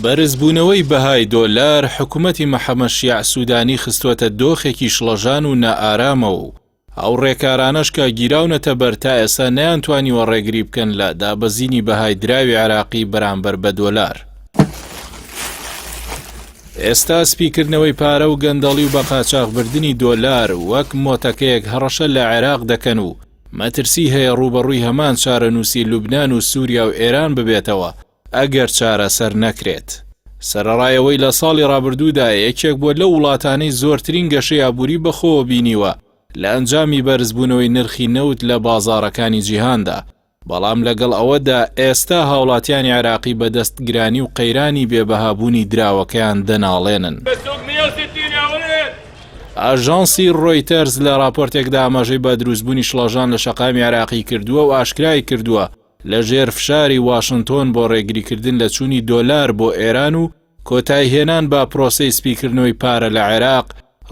بەرزبوونەوەی بەهای دۆلار حکومەتی محەمەد شیاع سوودانی خستووەتە دۆخێکی شڵەژان و نائارامەوە و ئەو ڕێکارانەش کە گیراونەتە بەر تا ئێستا نەیانتوانیوە ڕێگری بکەن لە دابەزینی بەهای دراوی عێراقی بەرامبەر بە دۆلار. ئێستا سپیکردنەوەی پارە و گەندەڵی و بەقاچاخبردنی دۆلار وەک مۆتەکەیەک هەڕەشە لە عێراق دەکەن و مەترسی هەیە ڕووبەڕووی هەمان چارەنووسی لوبنان و سووریا و ئێران ببێتەوە ئەگەر چارەسەر نەکرێت. سەرەڕای ئەوەی لە ساڵی ڕابردوودا یەکێک بووە لەو وڵاتانەی زۆرترین گەشەی ئابووری بەخۆوە بینیوە لە ئەنجامی بەرزبوونەوەی نرخی نەوت لە بازاڕەکانی جیهاندا، بەڵام لەگەڵ ئەوەدا ئێستا هاوڵاتیانی عێراقی بەدەست گرانی و قەیرانی بێبەهابوونی دراوەکەیان دەناڵێنن. ئاژانسی ڕۆیتەرز لە ڕاپۆرتێکدا ئاماژەی بە دروستبوونی شڵەژان لە شەقامی عێراقی کردووە و ئاشکرای کردووە لە ژێر فشاری واشنتۆن بۆ ڕێگریکردن لە چوونی دۆلار بۆ ئێران و کۆتایهێنان بە پرۆسەی سپیکردنەوەی پارە لە عێراق،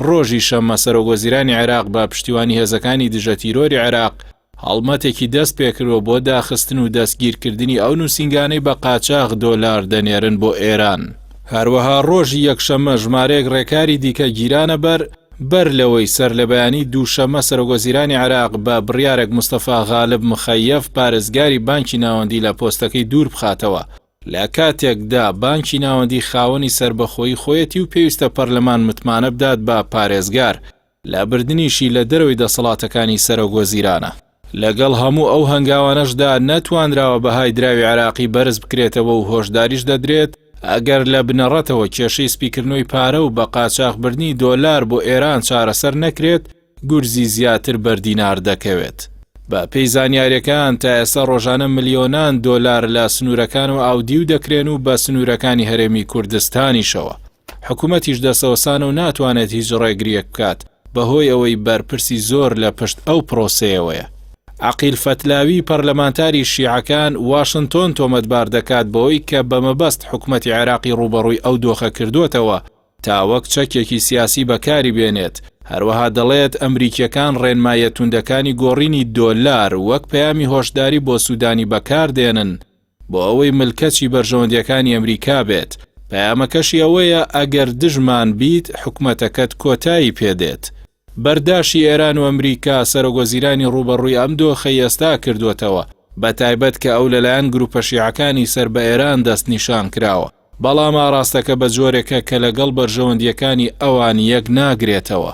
ڕۆژی شەممە سەرۆکوەزیرانی عێراق بە پشتیوانی هێزەکانی دژەتیرۆری عێراق هەڵمەتێکی دەست پێکردوە بۆ داخستن و دەستگیرکردنی ئەو نوسینگانەی بە قاچاغ دۆلار دەنێرن بۆ ئێران. هەروەها ڕۆژی یەکشەممە ژمارەیەک ڕێکاری دیکە گیرانە بەر، بەر لەوەی سەرلەبەیانی دووشەممە سەرۆکوەزیرانی عێراق بە بڕیارێک مستەفا غالب مخەیەف پارێزگاری بانکی ناوەندی لە پۆستەکەی دووربخاتەوە، لە کاتێکدا بانکی ناوەندی خاوەنی سەربەخۆیی خۆیەتی و پێویستە پەرلەمان متمانە بدات بە پارێزگار، لابردنیشی لە دەرەوەی دەسەڵاتەکانی سەرۆک وەزیرانە. لەگەڵ هەموو ئەو هەنگاوانەشدا نەتوانراوە بەهای دراوی عێراقی بەرز بکرێتەوە و هۆشداریش دەدرێت، ئەگەر لە بنەڕەتەوە کێشەی سپیکردنەوەی پارە و بە قاچاخ بردنی دۆلار بۆ ئێران چارەسەر نەکرێت، گورزی زیاتر بەر دینار دەکەوێت. بە پێی زانیارییەکان، تا ئێستا ڕۆژانە ملیۆنان دۆلار لە سنوورەکانەوە ئاودیو دەکرێن و بە سنوورەکانی هەرێمی کوردستانیشەوە. حکومەتیش دەستەوەستانە و ناتوانێت هیچ ڕێگرییەک بکات، بەهۆی ئەوەی بەرپرسی زۆر لە پشت ئەو پرۆسەیەوەیە. عەقیل فەتلاوی پەرلەمانتاری شیعەکان، واشنتۆن تۆمەتبار دەکات بەوەی کە بە مەبەست حکومەتی عێراقی ڕووبەڕووی ئەو دۆخە کردووەتەوە تا وەک چەکێکی سیاسی بەکاری بێنێت، هەروەها دەڵێت ئەمریکییەکان ڕێنماییە توندەکانی گۆڕینی دۆلار وەک پەیامی هۆشداری بۆ سوودانی بەکاردێنن، بۆ ئەوەی ملکەچی بەرژەوەندیەکانی ئەمریکا بێت، پەیامەکەشی ئەوەیە ئەگەر دژمان بیت حکومەتەکەت کۆتایی پێ دێت. بەرداشی ئێران و ئەمریکا سەرۆک وەزیرانی ڕووبەڕووی ئەم دۆخەی ئێستا کردووەتەوە، بە تایبەت کە ئەو لەلایەن گروپە شیعەکانی سەر بە ئێران دەست نیشان کراوە، بەڵام ئاڕاستەکە بە جۆرێکە کە لەگەڵ بەرژەوەندیەکانی ئەوان یەک ناگرێتەوە.